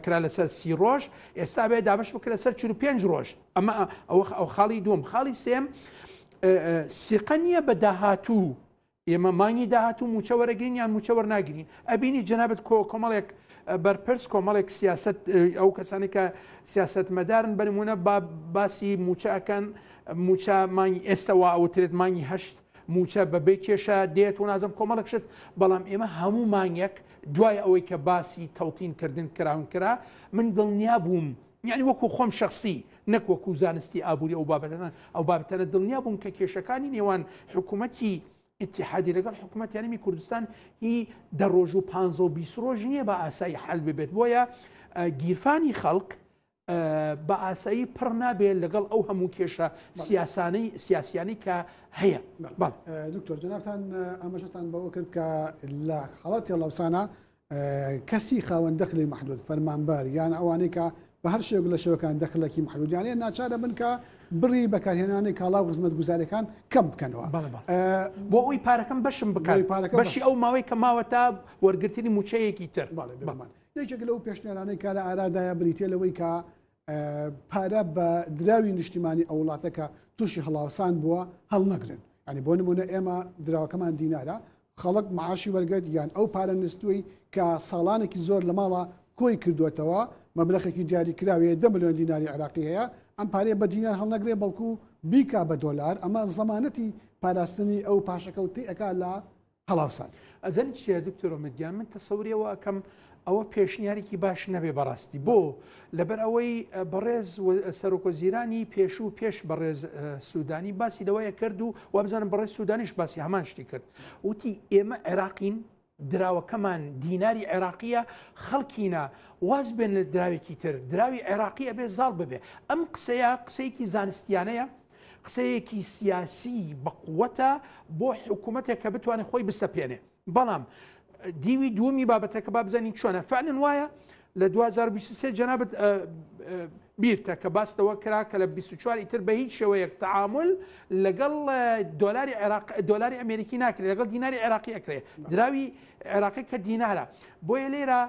کرا لەسەر سی ڕۆژ ئێستا بێ دابش بکرە سەر 45 ڕۆژ ئەمە ئەو خاڵی دوم خاڵی سێم سیقە نییە بە داهاتوو ئێمە مانگی داهاتوو موچە وەرەگرین یان موچە وەرناگرین ئەبینی جەنابەت کۆ کۆمەڵێک بەرپرس کۆمەڵێک سیاست ئەو کەسانی کە سیاست مەدارن بەرمونە با باسی موچە ئەەکەن موچە مانگی ئێستەوە ئەوترێت مانگی هەشت موچە بەبێ کێشە دێت و نازم کۆمەڵک شت بەڵام ئێمە هەموو مانگێک دوای ئەوەی کە باسی تەوتین کردن کراون کرا من دڵنیا بووم یعنی وەکو خۆم شخصی نەک وەکو زانستی ئابووری ئەو بابەتانە ئەو بابەتانە دڵنیا بووم کە کێشەکانی نێوان حکوومەتی اتحادی لەگەڵ حکوومەت یاریمی کوردستان هی دە ڕۆژ و پ و بیست ڕۆژ نییە بە ئاسایی حل ببێت بۆیە گیرفانی خەڵک بە ئاسایی پڕ نابێت لەگەڵ ئەو هەموو کێشە سیاسانەی سیاسیانی کە هەیە دکتۆر جناتان ئاماژەتان بەوە کرد کە لە حڵەتی لەوسانە کەسی خاوەن دەخلی مەحدود فەرمانبەر یان ئەوانەی کە بە هەر شێوک لە شێوەکان دەخلەکی محدودیانەیە ناچارە بن کە بڕی بەکارهێنانی کاڵا و خزمەت گوزارەکان کەم بکەنەوە بۆ ئەوی پارەکەم بەشم بکات پارەکە بەشی ئەو ماوەی کە ماوە تا وەرگرتنی موچەیەکی تر یەکێک لەو پێشنێرانەی کارە ئارادایە بریتە لەوەی کە پارە بە دراوی نیشتیمانی ئەو وڵاتە کە تووشی هەڵاوسان بووە هەڵنەگرن ئەنی بۆ نمونە ئێمە دراوەکەمان دینارە خەڵک معاشی وەرگێت یان ئەو پارە نستوی کە ساڵانێکی زۆر لە ماڵە کۆی کردوێتەوە مەبلەخێکی دیاری کراوەیە دە میلیۆن دیناری عراقی هەیە ئەم پارێ بە دینار هەڵنەگرێ بەڵکو بیکا بە دۆلار ئەمە زەمانەتی پاراستنی ئەو پاشەکەوتی ئەک لە هەڵاوسان ئەزانی چیە دکتۆر ئۆمێد گیان من تەسەوری ئەوە ئەکەم ئەوە پێشنیارێکی باش نەبێ بەڕاستی بۆ لەبەر ئەوەی بەڕێز سەرۆکۆزیرانی پێش و پێش بەڕێز سوودانی باسی لەوەیە کرد و وابزانم بەڕێز سوودانیش باسی هەمان شتی کرد وتی ئێمە عێراقین دراوەکەمان دیناری عێراقیە خەڵکینە واز بێن لە دراوێکی تر دراوی عێراقی ئەبێ زاڵ ببێ ئەم قسەیە قسەیەکی زانستیانەیە قسەیەکی سیاسی بەقوەتە بۆ حکوومەتێک کە بتوانێت خۆی بسەپێنێ بەڵام دیوی دووەمی بابەتەکە با بزانین چۆنە فعلن وایە لە 2023 جەنابەت بیرتە کە باس لەوە کرا کە لە 24 ئیتر بە هیچ شێوەیەک تعامل لەگەڵ دۆلاری عێراق دۆلاری ئەمریکی ناکرێت لەگەڵ دیناری عێراقی ئەکرێت دراوی عێراقی کە دینارە بۆیە لێرە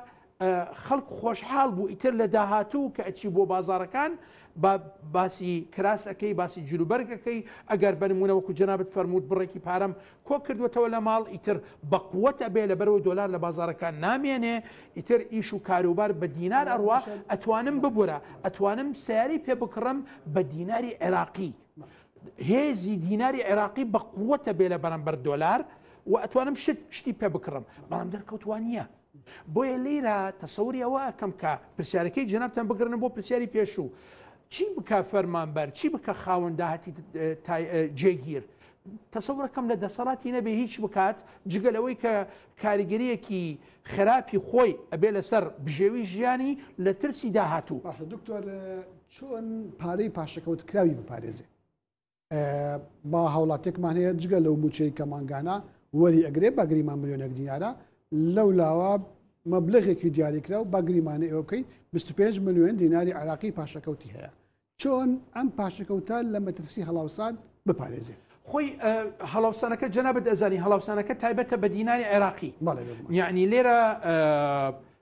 خەڵک خۆشحاڵ بوو ئیتر لە داهاتوو کە ئەچی بۆ بازارەکان با باسی کراسەکەی باسی جلوبەرگەکەی ئەگەر بنمونەوەکو جنابەت فەرمووت بڕێکی پارەم کۆ کردوێتەوە لە ماڵ ئیتر بەقوەتە بێ لە بەرەوە دۆلار لە بازارەکان نامێنێ ئیتر ئیش و کاروبار بە دینار ئەڕوا ئەتوانم ببورە ئەتوانم سیاری پێ بکڕم بە دیناری عێراقی هێزی دیناری عێراقی بە قووەتە بێ لە بەرەمبەر دۆلار و ئەتوانم شت شتی پێ بکڕم بەڵام دەرکەوتوان نییە بۆیە لێرە تەسەوری ئەوە ئەکەم کە پرسیارەکەی جەنابتان بگرنە بۆ پرسیاری پێشوو چی بکە فەرمانبەر چی بکە خاوەن داهاتی جێگیر تەسەورەکەم لە دەسەڵاتی نەبێ هیچ بکات جگە لەوەی کە کاریگەریەکی خراپی خۆی ئەبێ لەسەر بژێوی ژیانی لە ترسی داهاتوو باشە دکتۆر چۆن پارەی پاشەکەوت کراوی بپارێزێ با هاوڵاتێکمان هەیە جگە لەو موچەی کە مانگانە وەری ئەگرێ باگریمان ملیۆنێک دیارە لەو لاوە مەبلغێکی دیاریکرا و باگریمانە ئێوە بکەین 25 میلیۆن دیناری عراقی پاشەکەوتی هەیە چۆن ئەم پاشەکەوتە لە مەترسی هەڵاوسان بپارێزێ خۆی هەڵاوسانەکە جەنابەت ئەزانی هەڵاوسانەکە تایبەتە بە دیناری عێراقی یعنی لێرە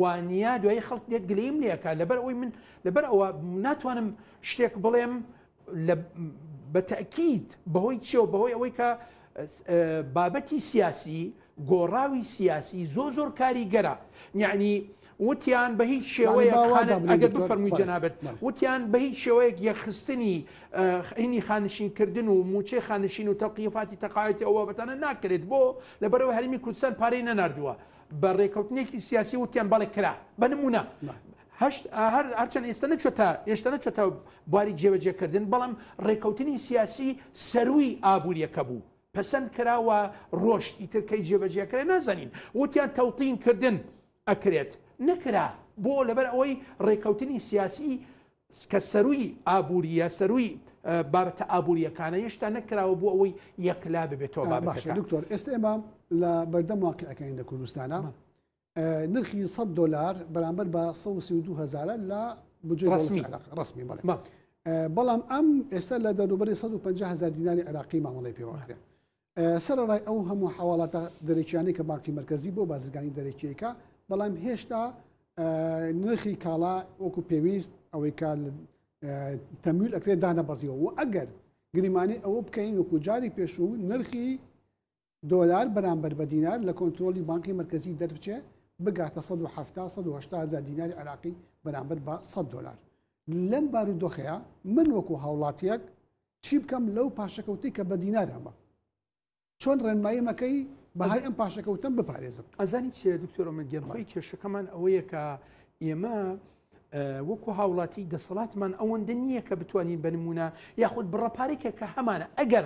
وانیە دوایی خەڵک دێت گلیم لەکە لەبەر ئەوی من لەبەر ئەوە ناتوانم شتێک بڵێم بە تەکییت بەهۆی چێو بەهۆی ئەوەی کە بابەتی سیاسی گۆڕاوی سیاسی زۆ زۆر کاریگەرە یعنی وتیان بە هیچ شێوەیە ئەگەر بفەرمووی جەنابەت وتیان بە هیچ شێوەیەک یەخستنی خینی خانشینکردن و موچەی خانشین و تەقیفاتی تەقاوەتی ئەوە بەتانە ناکرێت بۆ لەبەرەوە هەرمی کوردستان پارەی نەناردووە بە رێکەوتنێکی سیاسی وتیان بەڵێ کرا بە نمونە هەشت ئاهر هەرچەند ئێستا نەچێتە ئێشتا نەچێتە بواری جێبەجێکردن بەڵام رێکەوتنی سیاسی سەروی ئابوووریەکە بوو پەسەند کراوە ڕۆژ ئیترکەی جێبەجێکرێ نازانین وتیان تەوتین کردن ئەکرێت نەکرا بۆ لەبەر ئەوەی ڕێکەوتنی سیاسی کە سەرووی ئابوورییە، سەرووی بابەتە ئابوورییەکانە، هێشتا نەکراوە بۆ ئەوەی یەکلا ببێتەوە بابەتەکە. باشە دکتۆر، ئێستە ئێمە لە بەردەم واقیعەکەین لە کوردستانا، نرخی سەد دۆلار بەرامبەر بە سەد و سی و دوو هەزارە لە بودجەی دەوڵەتی عێراق، ڕەسمی بەڵێ، بەڵام ئەم ئێستە لە دەوروبەری سەد و پەنجا هەزار دیناری عێراقی مامەڵەی پێوە ئەکرێ. سەرەڕای ئەو هەموو حواڵاتە دەرەکیانەی کە بانکی مرکزی بۆ بازرگانی دەرەکیەکە بەڵام هێشتا نرخی کاڵا وەکو پێویست ئەوەی کا تەمیل ئەکرێت دانەبەزیەوە و ئەگەر گریمانی ئەوە بکەین وەکو جاری پێشوو نرخی دۆلار بەرامبەر بە دینار لە کۆنتترۆلی بانکی مرکزی دەربچێ بگاتە 1970 دیناری عراقی بەرامبەر بە 100 دلار لەم بارودۆخەیە من وەکو هاوڵاتیەک چی بکەم لەو پاشەکەوتەی کە بە دینار هەمە چۆن ڕێنمایی مەکەی بەهای ئەم پاشەکەوتم بپارێزم ئەزانی چێ دکتۆرە من گەنخۆی کێشەکەمان ئەوەیە کە ئێمە وەکو هاوڵاتی دەسەڵاتمان ئەوەندە نییە کە بتوانین بە نمونە یاخود بڕە پارێکە کە هەمانە ئەگەر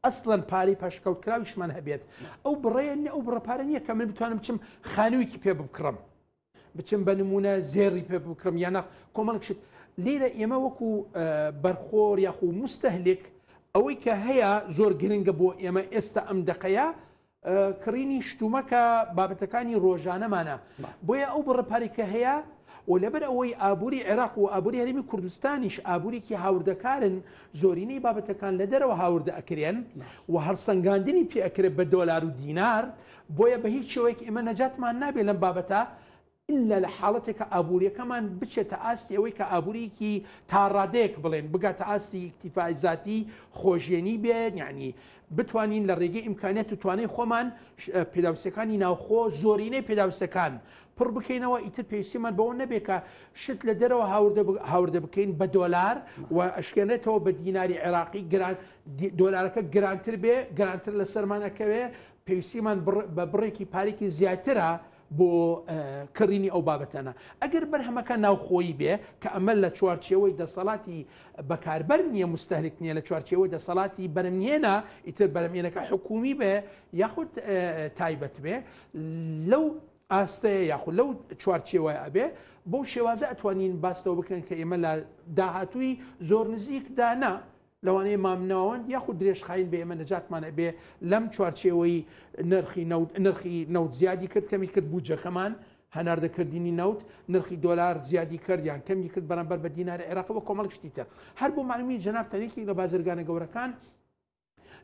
ئەسڵەن پارەی پاشکەوت کراویشمان هەبێت ئەو بڕێن ئەو بڕە پارە نییە کە من بتوانم بچم خانوویکی پێ بکڕم بچم بە نمونە زێڕی پێ بکڕم یانە کۆمەڵک شت لێرە ئێمە وەکو بەرخۆر یاخو مستەهلێک ئەوەی کە هەیە زۆر گرنگە بۆ ئێمە ئێستا ئەم دقەیە کڕینی شتومەکە بابەتەکانی ڕۆژانەمانە بۆیە ئەو بڕپاری کە هەیە و لەبەر ئەوەی ئابووری عێراق و ئابووری هەرمی کوردستانیش ئابووریکی هاوردەکارن زۆرینەی بابەتەکان لە دەرەوە هاوردە ئەکرێن و هەڵسەنگاندنی پێ ئەکرێت بە دۆلار و دینار بۆیە بە هیچ شێوەیەک ئێمە نەجاتمان نابێت لەم بابەتە ئللا لە حاڵەتێک کە ئابووریەکەمان بچێتە ئاستی ئەوەی کە ئابووریکی تاڕادەیەک بڵێن بگاتە ئاستی ئیکتیفای زیاتی خۆژێنی بێت یعنی بتوانین لە ڕێگەی ئیمکانیت و توانای خۆمان پێداوسەکانی ناوخۆ زۆرینەی پێداوسەکان پڕ بکەینەوە ئیتر پێویستیمان بەوە نەبێت کە شت لە دەرەوە هاوردە بکەین بە دۆلار و ئەشکێنێتەوە بە دیناری عێراقی گران دۆلارەکە گرانتر بێ گرانتر لە سەرمانەکەوێ پێویستیمان بە بڕێکی پارێکی زیاترە بۆ کڕینی ئەو بابەتەنە ئەگەر بەرهەمەکە ناوخۆیی بێ کە ئەمە لە چوارچێەوەی دەسەڵاتی بەکاربەر نییە مستەلک نییە لە چوارچێەوەی دەسەڵاتی بەرمێنە ئیتر بەرمێنەکە حکومی بێ یاخود تایبەت بێ لەو ئاستەیە یاخود لەو چوارچێوە ئەبێ بۆ شێوازە ئەتوانین باستەوە بکەن کە ئێمە لە داهاتووی زۆر نزیکدانا لەوانەیە مامناوەند یاخود درێژخایین بە ئێمە نەجاتمان ئەبێ لەم چوارچێوەی نرخی نەوت نرخی نەوت زیادی کرد کەمی کرد بودجەکەمان هەناردە کردنی نەوت نرخی دۆلار زیادی کرد یان کەمی کرد بەرامبەر بە دیناری عێراق وە کۆمەڵ شتی تر هەر بۆ معلومی جناب تەنێکی لە بازرگانە گەورەکان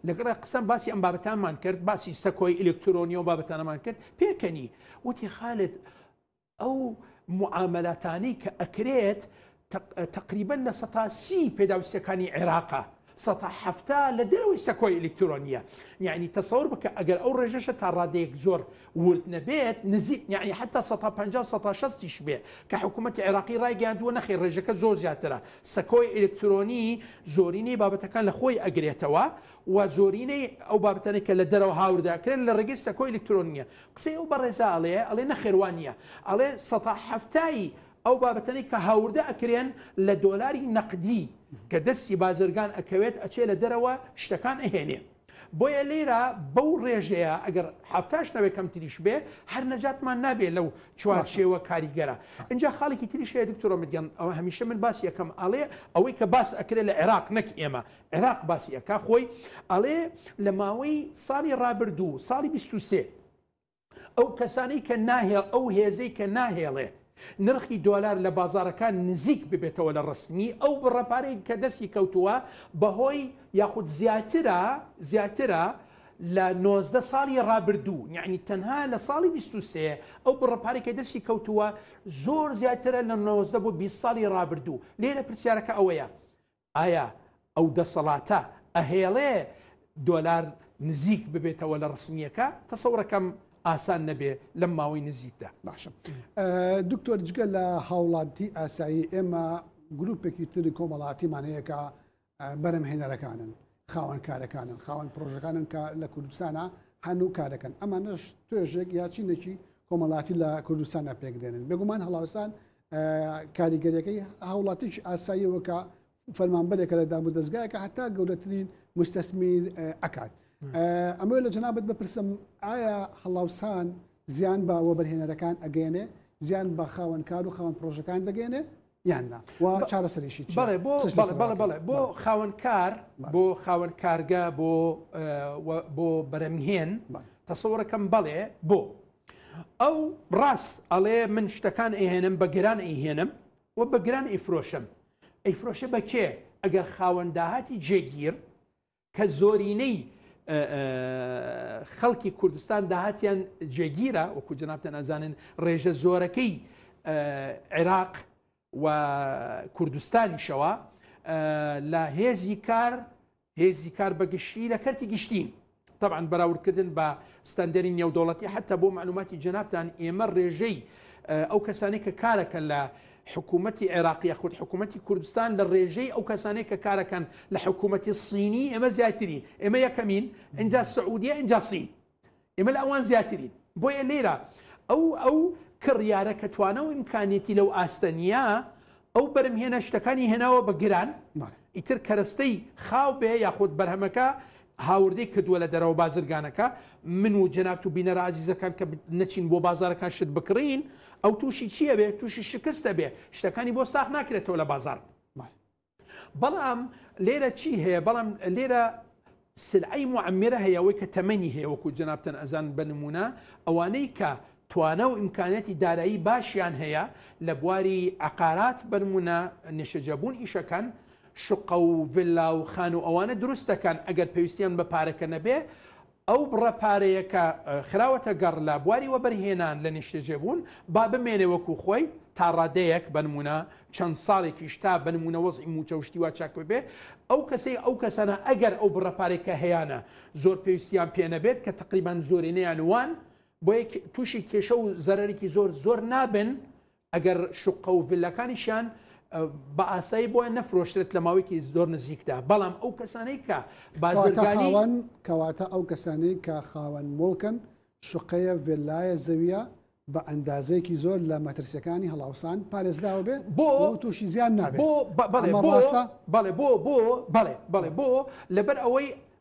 لەگەڵ قسەم باسی ئەم بابەتانمان کرد باسی سەکۆی ئەلکترۆنی و بابەتانەمان کرد پێکەنی وتی خالت ئەو معامەلاتانەی کە ئەکرێت تەقریبەن لە سەتا سی پێداویستەکانی عێراقە سەتا حەفتا لە دەرەوەی سەکۆی ئەلکترۆنیە یعنی تەسەور بکە ئەگەر ئەو ڕێژەشە تا ڕادەیەک زۆر ورد نەبێت نزیک یعنی حتا 16شیش بێ کە حکوومەتتی عێراقی ڕایگەاندووە نەخی ڕێژەکە زۆر زیاترە سەکۆی ئەلکترۆنی زۆرینەی بابەتەکان لە خۆی ئەگرێتەوە و زۆرینەی ئەو بابەتەنێک کە لە دەرەوە هاورداکرێن لە ڕێگەی سەکۆی ئەلکترۆنیە قسەی ئەو بەڕێزە ئەڵێ ئەڵێ نەخێر وا نیە ئەڵێ سەتا حەفتای ئەو بابەتەنەی کە هاوردە ئەکرێن لە دۆلاری نەقدی کە دەستی بازرگان ئەکەوێت ئەچێ لە دەرەوە شتەکان ئەهێنێ بۆیە لێرە بەو ڕێژەیە ئەگەر حەفتاش نەبێ کەمتریش بێ هەر نەجاتمان نابێ لەو چوارچێوە کاریگەرە ئینجا خاڵێکی تریش هەیە دکتۆرە مدیان ئەوە هەمیشە من باسی یەکەم ئەڵێ ئەوەی کە باس ئەکرێ لە عێراق نەک ئێمە عێراق باسی ئەکا خۆی ئەڵێ لە ماوەی ساڵی ڕابردوو ساڵی 23 ئەو کەسانەی کە ناهێڵ ئەو هێزەی کە ناهێڵێ نرخی دۆلار لە بازارەکان نزیک ببێتەوە لە ڕستنی ئەو بڕەپارەی کە دەستی کەوتووە بەهۆی یاخود زیاترە زیاترە لە 19 ساڵی ڕابردوو یعنی تەنها لە ساڵی 23 ئەو بڕەپارێکە دەستی کەوتووە زۆر زیاترە لە 19 بۆ 20 ساڵی ڕابردوو لێرە پرسیارەکە ئەوەیە ئایا ئەو دەسەڵاتە ئەهێڵێ دۆلار نزیک ببێتەوە لە ڕسمیەکە تەسەورەکەم ئاسان نەبێ لەم ماوەی نزیکدا باشم دکتۆر جگە لە هاوڵاتی ئاسایی ئێمە گروپێکی تری کۆمەڵاتیمانەیەکە بەرەم هێنەرەکانن خاوەن کارەکانن خاوەن پرۆژەکانن کە لە کوردستانە هەنوو کارەکەن ئەمانش توێژێک یاچینێکی کۆمەڵاتی لە کوردستانە پێکدێنن بێگومان هەڵاوسان کاریگەریەکەی هاوڵاتیش ئاساییەوەکە فەرمانبەرێکە لە دام و دەستگایەکە هەتا گەورەترین مستەسمیر ئەکات ئەمە لە جەنابەت بپرسم ئایا هەڵاوسان زیان بە وەبەرهێنەرەکان ئەگەێنێ زیان بە خاوەنکار و خاوەن پرۆژەکان دەگەێنێ یان نا و چارەسەریشی چیە؟ بەڵێ بۆ چش بەڵێ بەسەر بەڵێ بڵێ بۆ بەڵێ. خاوەن کار بەڵێ. بۆ خاوەن کارگە بۆ اه، و- بۆ بەرەمهێن بەڵێ. تەسەوڕەکەم بەڵێ بۆ ئەو ڕاست ئەڵێ من شتەکان ئەهێنم بە گران ئەیهێنم و بە گران ئەیفرۆشم ئەیفرۆشە بە کێ ئەگەر خاوەن داهاتی جێگیر کە زۆرینەی خەڵکی کوردستان داهاتیان جێگیرە وەکو جنابتە نازانن ڕێژە زۆرەکەی عێراق و کوردستانیشەوە لە هێزی کار هێزی کار بەگشتی لە کەرتی گشتین طبعا بەراوردکردن بە ستەندەری نێودوڵەتی حتا بۆ معلوماتی جنابان ئێمە ڕێژەی ئەو کەسانی کە کارەکە لە حکومەتی عێراق یاخود حکومەتی کوردستان لە ڕێژەی ئەو کەسانەی کە کارەکەن لە حکومەتی صینی ئێمە زیاترین ئێمە یەکەمین ئینجا سعودیە ئینجا صین ئێمە لە ئەوان زیاترین بۆیە لێرە ئەو ئەو کڕیارە کە توانە و ئیمکانێتی لەو ئاستە نییە ئەو بەرم هێنە شتەکانی هێناوە بە گران ئیتر کەرەستەی خاو بێ یاخود بەرهەمەکە هاوردەی کردووە لە دەرەوە بازرگانەکە، من و جەنابت و بینەرە ئازیزەکان کە نەچین بۆ بازاڕەکان شت بکڕین، ئەو تووشی چی ئەبێ؟ تووشی شکست ئەبێ، شتەکانی بۆ ساخ ناکرێتەوە لە بازاڕ. بەڵام لێرە چی هەیە؟ بەڵام لێرە سلعەی موعەممرە هەیە، ئەوەی کە تەمەنی هەیە، وەکو جەنابتان ئەزانن بە نموونە ئەوانەی کە توانا و ئیمکانیاتی دارایی باشیان هەیە لە بواری عەقارات بەنمونە نیشتەجێبوون ئیشەکەن شوقە و ڤیلا و خانو و ئەوانە دروست دەکەن ئەگەر پێویستیان بە پارەکە نەبێ ئەو بڕە پارەیە کە خراوەتە گەڕ لە بواری وەبەرهێنان لە نیشتەجێبوون با بمێنێ وەکو خۆی تا ڕادەیەک بەنمونە چەند ساڵێکیش تا بەنمونە وەزعی موچە و شتی وا چاک ببێ ئەو کەسەی ئەو کەسانە ئەگەر ئەو بڕە پارێکە هەیانە زۆر پێویستیان پێ نەبێت کە تقریبان زۆرینەیان وان بۆیە تووشی کێشە و زەرەرێکی زۆر زۆر نابن ئەگەر شقە و ڤلەکانیشیان بە ئاسایی بۆە نەفرۆشتێت لە ماوەیەکی زۆر نزیکدا بەڵام ئەو کەسانەی کە بازرگانیوان کەواتە ئەو کەسانەی کە خاوەن مڵکن شقەیە ڤێلایە زەویە بە ئەندازەیەکی زۆر لە مەترسیەکانی هەڵاوسان پارێزراوە بێ بۆ تووشی زیان نابێت بۆ بەڵێ بۆ بەڵێ بۆ بۆ بەڵێ بەڵێ بۆ لەبەر ئەوەی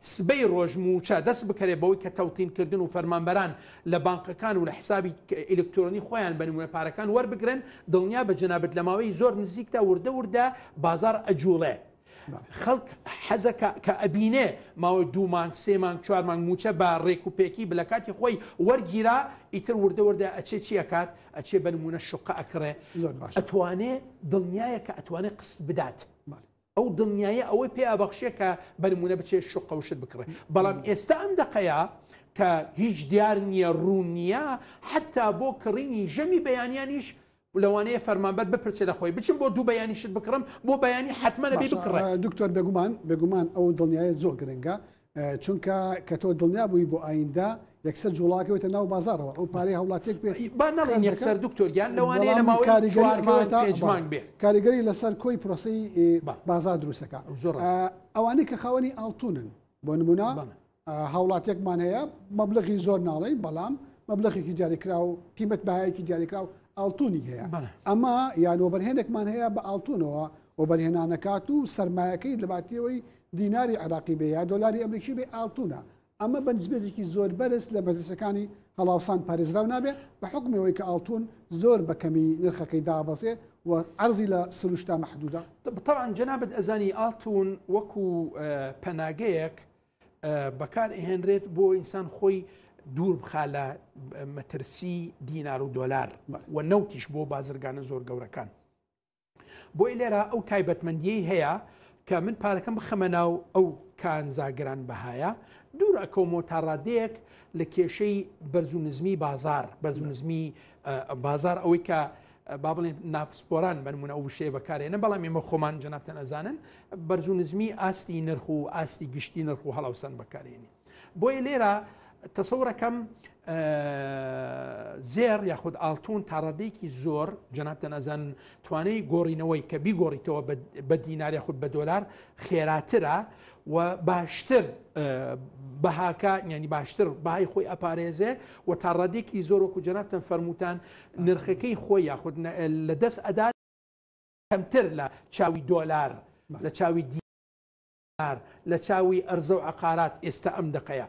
سبەی ڕۆژ مووچە دەست بکەێت بەوەی کە تەوتین کردن و فەرمانبەران لە بانقەکان و لە حسابی ئیلکترۆنی خۆیان بە نموونە پارەکان وەربگرن دڵنیا بە جەنابت لە ماوەی زۆر نزیکدا وردە وردە بازار ئەجوڵێ خەڵک حەزە کە ئەبینێ ماوەی دوو مانگ سێ مانگ چوار مانگ موچە بە ڕێک و پێکی بلە کاتی خۆی وەرگیرا ئیتر وردە وردە ئەچێ چیەکات ئەچێ بە نمونە شقە ئەکڕێ ئەتوانێ دڵنیایە کە ئەتوانێت قست بدات. ئەو دڵنیایە ئەوەی پێ ئەبەخشێ کە بەنمونە بچێ شوقە وشت بکڕێ بەڵام ئێستا ئەم دەقەیە کە هیچ دیار نییە ڕوون نییە حتا بۆ کڕینی ژەمی بەیانیانیش لەوانەیە فەرمانبەر بپرسێ لە خۆی بچم بۆ دوو بەیانیشت بکڕم بۆ بەیانی حتممە نەبی بکڕێ دکتۆر بێگومان بێگومان ئەو دڵنیایە زۆر گرنگە چونکە کە تۆ دڵنیا بووی بۆ ئایندە یەکسەر جوڵاکەوەتە ناو بازارەوە ئەو پارەی هەوڵاتێک پێی با نڵێن یەکسەر دکتۆرگیان لەوانەیە لە ماوەی کاریگەریمان بێ کاریگەری لەسەر کۆی پرۆسی بازار دروستەکە زۆر ئەوانەی کە خاوەنی ئاڵتونن بۆ نمونە هاوڵاتێکمان هەیە مەبلغی زۆر ناڵێ بەڵام مەبلغێکی دیاریکرا و قیمت بایەکی دیاریکرا و ئاڵتونی هەیە ئەمە یانۆبەرهێنێکمان هەیە بە ئاڵتونەوە و بەرهێنانەکات و سرمایەکەی لەباتیەوەی دیناری عێراقی بێ یا دۆلاری ئەمریکی بێ ئاڵتونە ئەمە بە نزبێتێکی زۆر بەرز لە مەدرسەکانی هەڵاوسان پارێزراو نابێ بە حکمەوەی کە ئاڵتون زۆر بە کەمی نرخەکەی دابەزێ و ئەرزی لە سروشتا مەحدودا بەتەوان جەنابەت ئەزانی ئاڵتون وەکو پەناگەیەک بەکار ئەهێنرێت بۆ ئینسان خۆی دوور بخا لە مەترسی دینار و دۆلار و نەوتیش بۆ بازرگانە زۆر گەورەکان بۆی لێرا ئەو تایبەتمەندیەی هەیە کە من پارەکەم بخەمە ناو ئەو کانزاگران بەهایە دوور ئەکەومەوە تا ڕادەیەک لە کێشەی بەرز و نزمی بازار بەرز و نزمی بازار ئەوەی کە با بڵێن ناپسپۆران بەنمونە ئەو شێ بەکارێنە بەڵام ئێمە خۆمان جنابتەن ئەزانن بەرز و نزمی ئاستی نرخ و ئاستی گشتی نرخ و هەڵاوسان بەکارێنی بۆیە لێرە تەسەورەکەم زێر یاخود ئاڵتون تاڕادێکی زۆر جەنابتەن ئەزان توانەی گۆڕینەوەی کە بیگۆڕیتەوە بە دینارە خود بە دۆلار خێراترە و باشتر بەهاکە ینی باشتر بای خۆی ئەپارێزێ و تا ڕادێکی زۆر وەکو جەنابتەن فەرمووتان نرخەکەی خۆی یاخود لە دەست ئەدات کەمتر لە چاوی دۆلار لە چاوی دی ئار لە چاووی ئەرزەو عەقارات ئێستا ئەم دەقەیە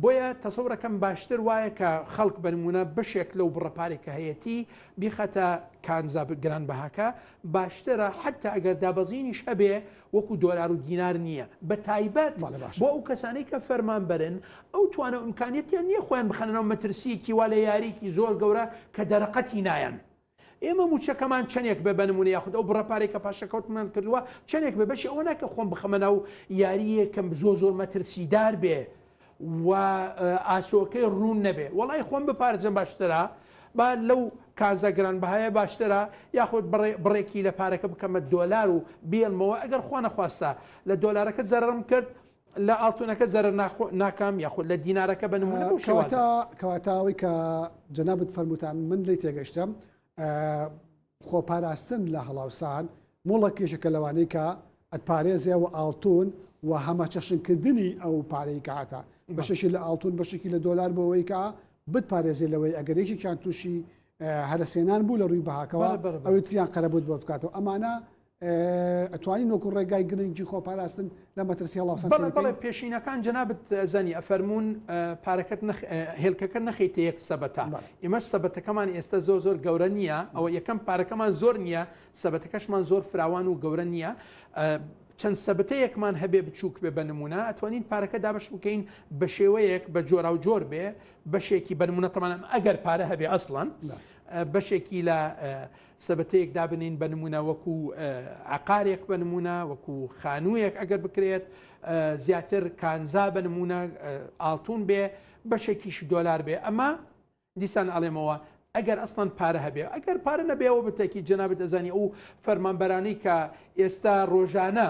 بۆیە تەسەورەکەم باشتر وایە کە خەڵک بە نموونە بەشێک لەو بڕە پارەی کە هەیەتی بیخاتە کانزا گران بەهاکە باشترە حتا ئەگەر دابەزینیش هەبێ وەکو دۆلار و دینار نییە بە تایبەت بەڵێ باشە بۆ ئەو کەسانەی کە فەرمان بەرن ئەو توانە و ئیمکانیەتیان نییە خۆیان بخەنەوە مەترسیەکی وا لە یاریەکی زۆر گەورە کە دەرەقەتی نایەن ئێمە مووچەکەمان چەندێک بێ، بە نموونە، یاخود ئەو بڕە پارەی کە پاشەکەوتمان کردووە چەندێک بێ، بەشی ئەوە ناکەم خۆم بخەمە ناو یارییەک کە زۆر زۆر مەترسیدار بێ و ئاسۆکەی ڕوون نەبێ. وەڵای خۆم بپارێزم باشترە، با لەو کانزا گرانبەهایە باشترە، یاخود بڕێکی لە پارەکە بکەمە دۆلار و بێڵمەوە، ئەگەر خوانەخواستە لە دۆلارەکە زەرەرم کرد، لە ئاڵتونەکە زەرەر ناخۆ ناکام یاخۆ لە دینارەکە بە نمونە بەو شێوازە. کەواتە کەواتە ئەوەی کە جەنابت فەرمووتان من لێی تێگەشتم خۆپاراستن لە هەڵاوسان مۆڵە کێشەکە لەوانەی کە ئەتپارێزێ و ئاڵتون و هەمە چەشنکردنی ئەو پارەی کاتە بەشێکی لە ئاڵتون بەشێکی لە دۆلار بۆەوەی کە بتپارێزێ لەوەی ئەگەر یەکێکیان تووشی هەرسێنان بوو لە ڕووی بەهاکەوە ئەوی تریان قەرەبوت بۆ بکاتەوە ئەمانە ئەتوانی نۆک و ڕێگای گرنگی خۆپاراستن لە مەترسی هەڵاوسەڵێ پێشینەکان جەنابەت زەنی ئەفەرمونون پارەکەت هێلکەکە نەخیتە یەک سەبەتا ئێمە سەبەتەکەمان ئێستا زۆر زۆر گەورە نییە ئەوە یەکەم پارەکەمان زۆر نییە سەبەتەکەشمان زۆر فراوان و گەورە نییە چەند سەبتەیەکمان هەبێ بچووک بێ بە نمونە ئەتوانین پارەکە دابش بکەین بە شێوەیەک بە جۆرا و جۆر بێ بەشێکی بەرمونەتەمانم ئەگەر پارە هەبێ ئەسڵەن بەشێکی لە سەبەتەیەک دابنێین بە نمونە وەکو عقارێک بە نمونە وەکو خانوویەک ئەگەر بکرێت زیاتر کانزا بە نمونە ئاڵتون بێ بەشێکیش دۆلار بێ ئەمە دیسان ئەڵێمەوە ئەگەر ئەسڵان پارە هەبێ ئەگەر پارە نەبێەوە بتەکی جەنابەت ئەزانی ئەو فەرمانبەرانی کە ئێستا ڕۆژانە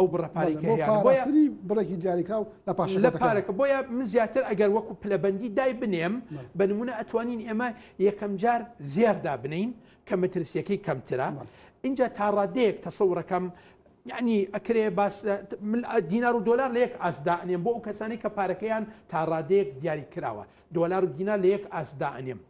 ئەو بڕە پارەی کە هەیانە بۆیە بڕێکی دیاریکراو لە پاش لە پارەکە بۆیە من زیاتر ئەگەر وەکو پلەبەندی دای بنێم بە نمونە ئەتوانین ئێمە یەکەم جار زێردا بنین کە مەترسیەکەی کەمترە اینجا تا ڕادەیەک تەسەورەکەم یعنی ئەکرێ باس دینار و دلار لە یەک ئاسدانێم بۆ ئەو کەسانی کە پارەکەیان تا ڕادەیەک دیاری کراوە دلار و دینا لە یەک ئاسدانێم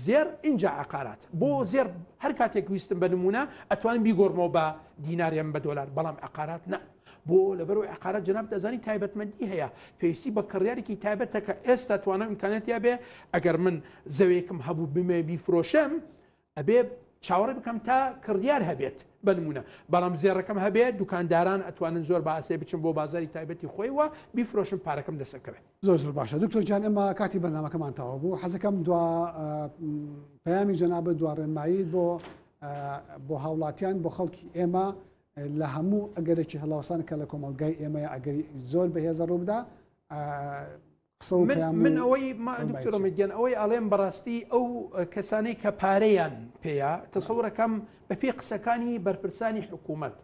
زێڕ ئینجا عەقارات بۆ زێڕ هەر کاتێک ویستم بە نمونە ئەتوانم بیگۆڕمەوە بە دیناریان بە دۆلار بەڵام عقارات نا بۆ لەبەرەوەی عقارات جناب دەزانی تایبەتمەندی هەیە پێویستی بە کڕیارێکی تایبەتەکە ئێستا توانە امکانەتیا بێ ئەگەر من زەوێکم هەبوو بمێ بیفرۆشم ئەبێ چاوەڕێ بکەم تا کڕیار هەبێت بە نمونە بەڵام زێڕەکەم هەبێت دوکانداران ئەتوانن زۆر باسێ بچم بۆ بازاری تایبەتی خۆی وە بیفرۆشم پارەکەم دەسەکەوێت زۆر زۆر باشە دکتۆر جان ئێمە کاتی بەنامەکەمان تاوا بوو حەزەکەم دوا پەیامی جەنابە دوا ڕێنماییت بۆ بۆ هاوڵاتیان بۆ خەڵکی ئێمە لە هەموو ئەگەرێکی هەڵاوسان کە لە کۆمەلگای ئێمەیە ئەگەری زۆر بەهێزە ڕووبدا من ئەوەی دکتۆرۆمیدیان ئەوەی ئەڵێم بەڕاستی ئەو کەسانەی کە پارەیان پێەیە تەسەورەکەم بەپی قسەکانی بەرپرسانی حکوومەت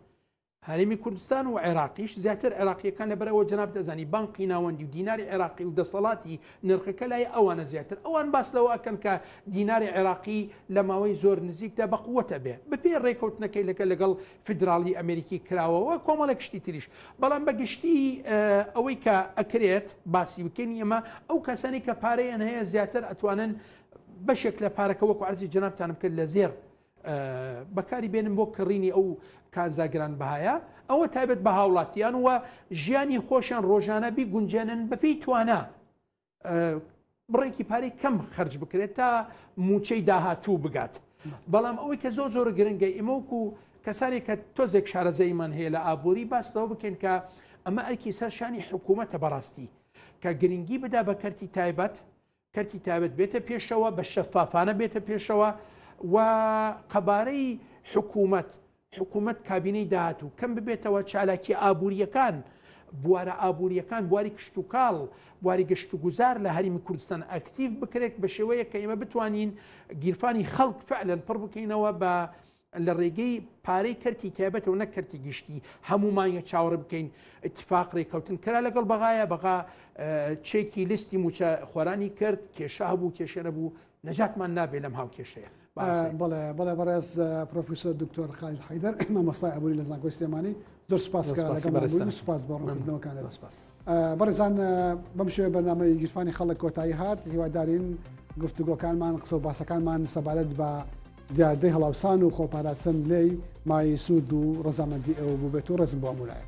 هەرێمی کوردستان و عێراقیش زیاتر عێراقییەکان لەبەر ئەوە جەنابت ئەزانی بانقی ناوەندی و دیناری عێراقی و دەسەڵاتی نرخەکە لای ئەوانە زیاتر ئەوان باس لەوە ئەکەن کە دیناری عێراقی لە ماوەی زۆر نزیکدا بە قوت ئەبێ بەپێی ڕێکەوتنەکەی لەکە لەگەڵ فیدراڵی ئەمریکی کراوە و کۆمەڵێک شتی تریش بەڵام بە گشتی ئەوەی کە ئەکرێت باسی بکەین ئێمە ئەو کەسانی کە پارەیان هەیە زیاتر ئەتوانن بەشێک لە پارەکە وەکو عەرزی جەنابتانم کرد لە زێر بەکاری بێنن بۆ کڕینی ئەو کانزا گرانبەهایە ئەوە تایبەت بە هاوڵاتیان و ژیانی خۆشیان ڕۆژانە بیگونجێنن بەپی توانە بڕێکی پارەی کەم خرج بکرێت تا موچەی داهاتوو بگات بەڵام ئەوەی کە زۆر زۆر گرنگە ئیمەوک و کەسانی کە تۆزێک شارەزەیمان هەیە لە ئابووری باس لەوە بکەین کە ئەمە ئەرکی سەرشانی حکوومەتە بەڕاستی کە گرنگی بدا بە کەرتی تایبەت کەرتی تایبەت بێتە پێشەوە بە شەفافانە بێتە پێشەوە و قەبارەی حکوومەت حکوومەت کابینەی داهات و کەم ببێتەوە چالاکی ئابوووریەکان بوارە ئابوووریەکان بواری کشتتوکاڵ بواری گەشت و گوزار لە هەرمی کوردستان ئەکتیف بکرێت بە شێوەیە کە ئێمە بتوانین گیرفانی خەڵک فعلەن پڕ بکەینەوە بە لە ڕێگەی پارەی کەرتی تایبەتەوە نەک کەرتی گشتی هەمومان یە چاوەڕ بکەین اتفاق ڕێککەوتن کرا لەگەڵ بەغایە بەغا چێکی لیستی موچە خۆرانی کرد کێشە هەبوو کێشە نەبوو نەجاتمان نابێ لەم هاو کێشەیە بڵێ بڵێ بەڕێز پرۆفیسۆر دکتۆر خالیل حیدەر مامۆستای ئەبووری لە زانکۆی سلێمانی زۆر سوپاس کە لەگەڵ سوپاس بۆ ڕوونکردنەوەکانت سپاس. بەڕێزان بەم شێوەیە بەرنامەی گیرفانی خەڵک کۆتایی هات هیوادارین گفتوگۆکانمان قسە و باسەکانمان سەبارەت بە دیاردەی هەڵاوسان و خۆپاراستن لێی مای سوود و ڕزامەندی ئەوە بووبێت و ڕزم بۆ ئەمولایە